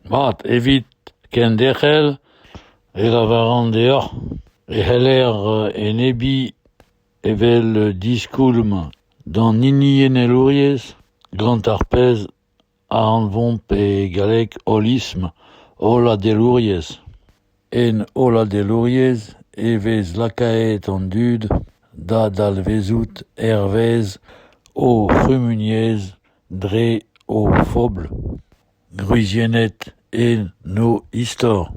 Mat, evit kenderc'hel e lavaran deoc'h e c'heller enebiñ evel diskoulm d'an hiniennelouriezh gant ar pezh a anvomp e galleg holism holladelouriezh. En holladelouriezh e vez lakaet an dud da dalvezout hervez o c'humuniezh dre o fobl, gwriziennet en o istor,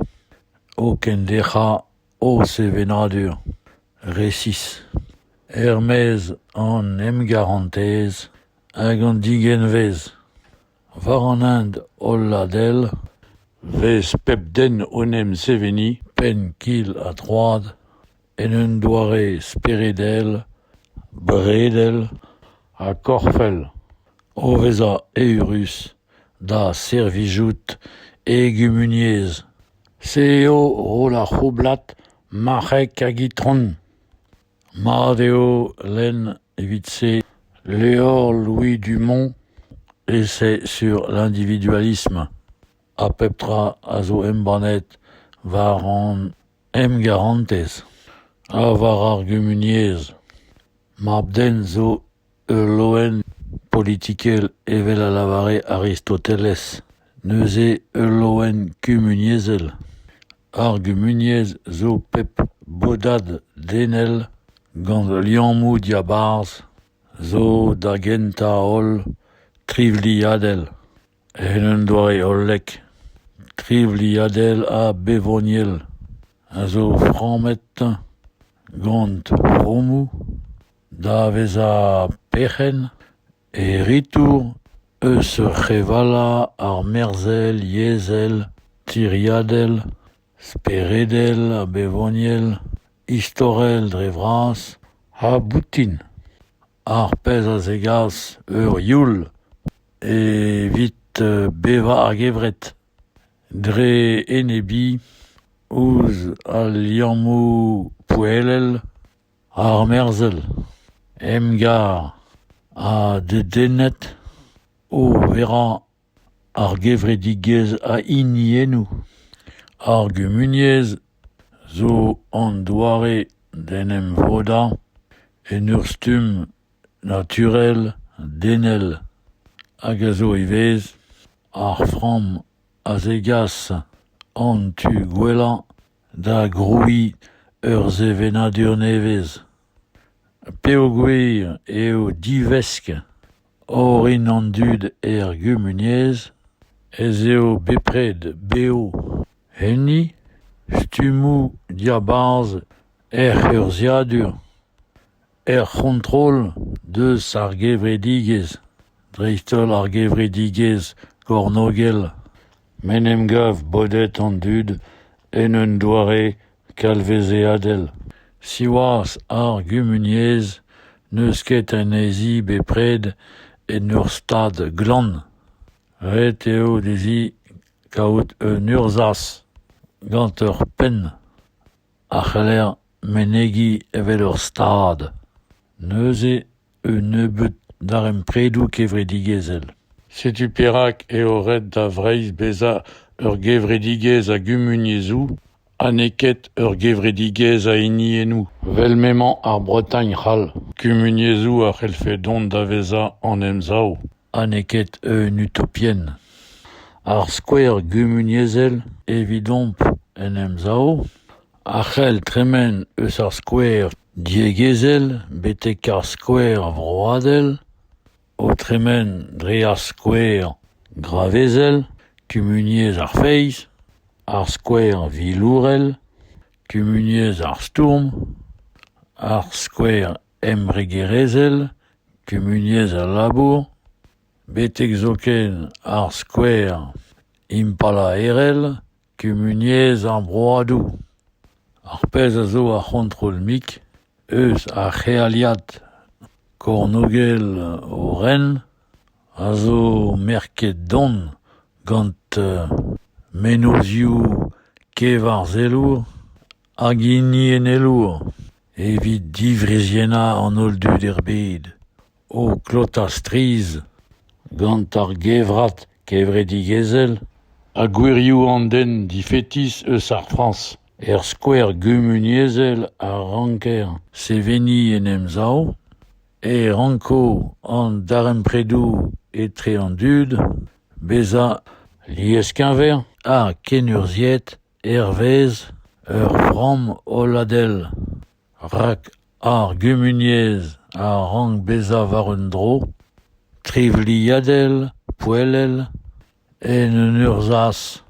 o kenderc'hañ o sevenadur resis. Er-maez an emgarantez hag an digenvez. War an hent hollad-hel 'vez pep den o'n em seveniñ penn-kil-ha-troad en un doare speredel, bredel ha korfel, o vezañ eürus da servijout e gumuniezh. Se eo roll ar c'houblad marc'heg hag itron. Mat eo lenn evit-se levr Louis Dumont Essai sur l'individualisme, ha pep tra a zo embannet war an emgarantez ha war ar gumuniezh. Mab-den zo Ul loen politikel evel a lavare Aristoteles, neuze ul loen kumuniezhel. Ar gumuniezh zo pep bodad denel gant liammoù diabarzh zo da gentañ-holl trivliadel, en un doare hollek, trivliadel ha bevoniel, a zo frammet gant fromoù. da vezañ perc'henn e ritour eus revallañ armerzhel yezhel tiriadel speredel ha bevoniel istorel dre vras ha boutin ar pezh a zegas ur youl evit bevañ ar gevred dre enebiñ ouzh al liammoù poellel armerzhel, emgar ha dedennet o verañ ar gevredigezh a hiniennoù. Ar gumuniezh zo an doare d'en em vodañ en ur stumm naturel denel hag a zo ivez ar framm a zegas an tu gwellañ da grouiñ ur sevenadur nevez peogwir eo divesk orin an dud er gumuniezh ez eo bepred bev enni stummoù diabarzh hec'h urzhiadur Er c'hontrol deus ar gevredigezh, dreist-holl ar gevredigezh kornogel, m'en em gav bodet an dud en un doare kalvezeadel. Siwazh, ar gumuniezh n'eus ket anezhi bepred en ur stad glan. Ret eo dezhi kaout un urzhaz gant ur penn. a c'heller menegiñ evel ur stad, neuze un nebeud darempredoù kevredigezhel. Setu perak eo ret da Vreizh bezañ ur gevredigezh a gumuniezhoù ha n'eo ket ur gevredigezh a hiniennoù, vel m'emañ ar Bretagne c'hall. Kumuniezhoù a c'hellfe dont da vezañ an Emsav. ha n'eo ket un utopienn. Ar skouer gumuniezhel evidomp en Emsav a c'hell tremen eus ar skouer diegezhel betek ar skouer vroadel, o tremen dre ar skouer gravezel, kumuniezh ar feiz, ar skouer vilourel, kumuniezh ar stourm, ar skouer embregerezhel, kumuniezh al labour, betek zoken ar skouer impalaerel, kumuniezh ar broadoù. Ar pezh a zo ar c'hontrol-mik eus ar c'healiad kornôgel o ren a zo merket don gant mennozhioù kevarzhelour hag hiniennelour. Evit diwriziennañ an holl dud er bed, o klotañ strizh gant ar gevrat kevredigezhel ha gwirioù an den difetis eus ar Frañs er skouer gumuniezhel a ranker seveniñ en Emsav, e ranko an darempredoù etre an dud bezañ lies-keñver ha kenurzhiet hervez ur framm holladel, rak ar gumuniezh a rank bezañ war un dro trivliadel, poellel, en un urzhaz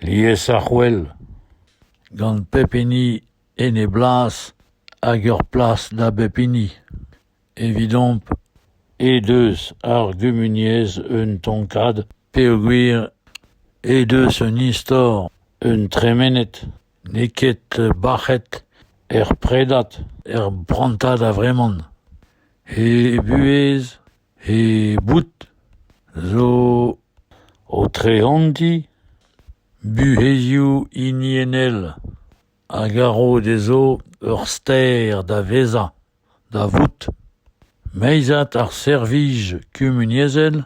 liesarc'hwel, gant pep hini en e blas hag ur plas da bep hini. Evidomp he deus ar gumuniezh un tonkad peogwir he deus un istor, un tremened, n'eo ket bac'het er predad, er prantad a-vreman. He buhez, he boud zo o treantiñ buhezioù hiniennel a garo dezho ur ster da vezañ. da vout meizad ar servij kumuniezhel,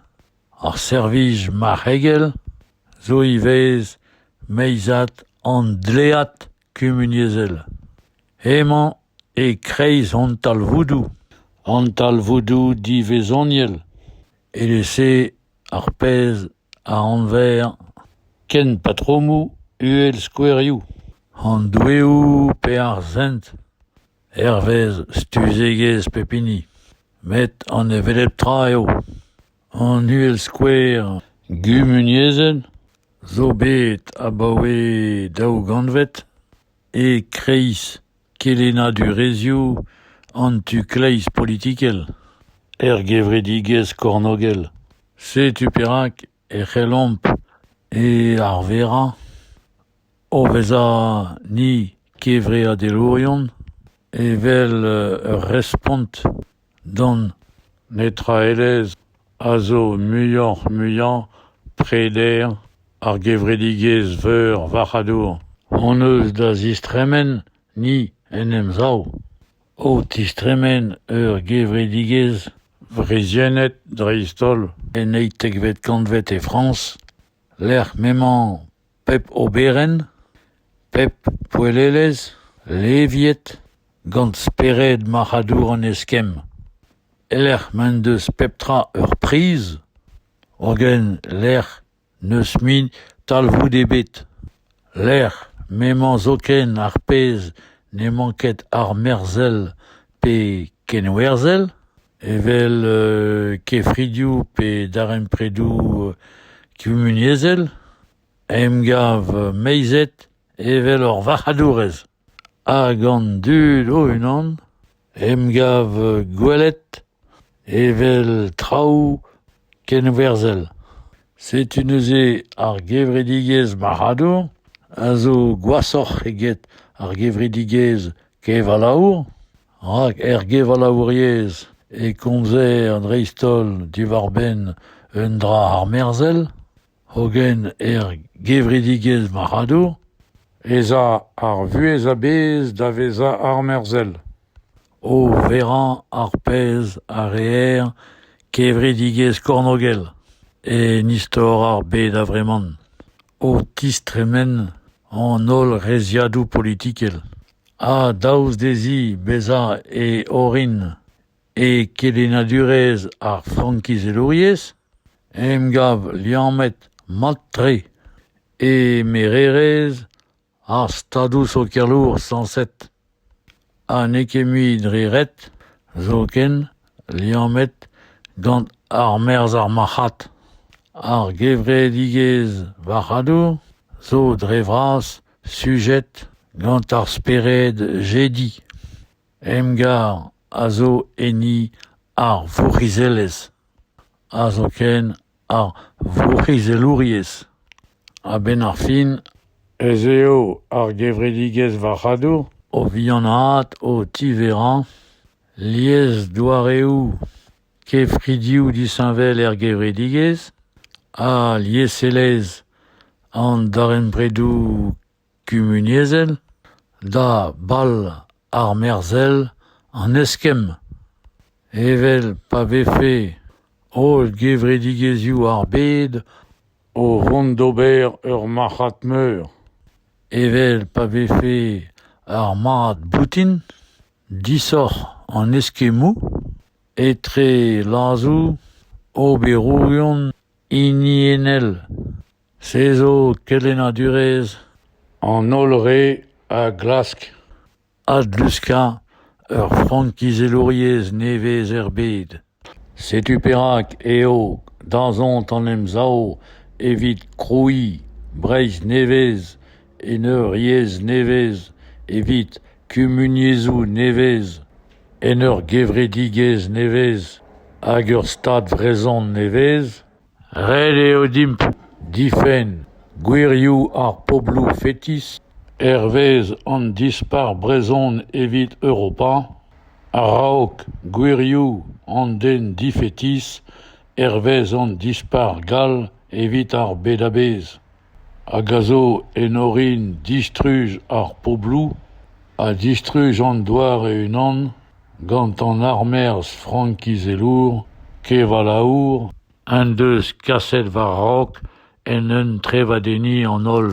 ar servij marc'hegel zo ivez meizad an dlead kumuniezhel. Emañ e-kreiz hon talvoudoù, an talvoudoù divezhoniel, evel-se ar pezh a anver kenpatromoù uhelskouerioù, an doueoù pe ar sent hervez stuzegezh pep hini. Met an hevelep tra eo. An uhelskouer gumuniezhel zo bet abaoe daou gantved e-kreiz. Kelennadurezhioù an tu-kleiz politikel er gevredigezh kornôgel. Setu perak e c'hellomp e arverañ o vezañ ni kevreadelourion evel ur respont Don, neutraelezh, a zo muioc'h-muiañ preder ar gevredigezh veur varc'hadour hon eus da zistremen ni en Emsav, o tistremen ur gevredigezh wriziennet dreist-holl en eizhtekvet kantved e Frañs, lec'h m'emañ pep oberenn, pep poellelezh leviet gant spered marc'hadour an eskemm. E-lec'h m'en deus pep tra ur priz, hogen lec'h n'eus mui talvoud ebet, lec'h m'emañ zoken ar pezh n'emañ ket armerzhel pe kenwerzhel, evel kefridioù pe darempredoù kumuniezhel, emgav meizet evel ur varc'hadourez, ha gant dud o-unan, emgav gwelet evel traoù kenwerzhel. Setu neuze ar gevredigezh marc'hadour a zo gwashoc'h eget ar gevredigezh kevalaour. Rak er gevalaouriezh e komzer dreist-holl diwar-benn un dra armerzhel, hogen er gevredigezh marc'hadour ez a ar vuhez a-bezh da vezañ armerzhel, o verañ ar pezh a reer kevredigezh kornôgel en istor ar bed a-vreman. o tistremen an holl reizhiadoù politikel ha daoust dezhi bezañ e orin e kelennadurezh ar frankizelouriezh emgav liammet mat-tre e mererezh Ar Stadoù sokialour sañset ha n'eo ket mui dre ret zoken liammet gant armerzh ar marc'had. Ar gevredigezh varc'hadour zo dre vras sujet gant ar spered jediñ. Emgar a zo enni ar vourc'hizelezh ha zoken ar vourc'hizelouriezh. A-benn ar fin ez eo ar gevredigezh varc'hadour o vihanaat o tiverañ liesdoareoù kefridioù disheñvel er gevredigezh ha lieselezh an darempredoù kumuniezhel, da bal armerzhel an eskemm, evel pa vefe holl gevredigezhioù ar bed o vont d'ober ur marc'had meur, evel pa vefe ar mad boutin, disoc'h an eskemmoù etre lazoù oberourion hiniennel. Se zo kelennadurezh an holl re a glask adluskañ ur frankizelouriezh nevez er bed. Setu perak eo dazont an Emsav evit krouiñ Breizh nevez en ur yezh nevez, evit kumuniezhoù nevez, en ur gevredigezh nevez hag ur Stad vrezhon nevez. Ret eo dimp difenn gwirioù ar pobloù fetis hervez an Dispac'h brezhon evit Europa a-raok gwirioù an den difetis hervez an Dispac'h gall evit ar bed a-bezh. hag a zo en orin distruj ar pobloù ha distruj an doare unan gant an armerzh frankizelour kevalaour en deus kaset war-raok en un trevadenniñ an holl.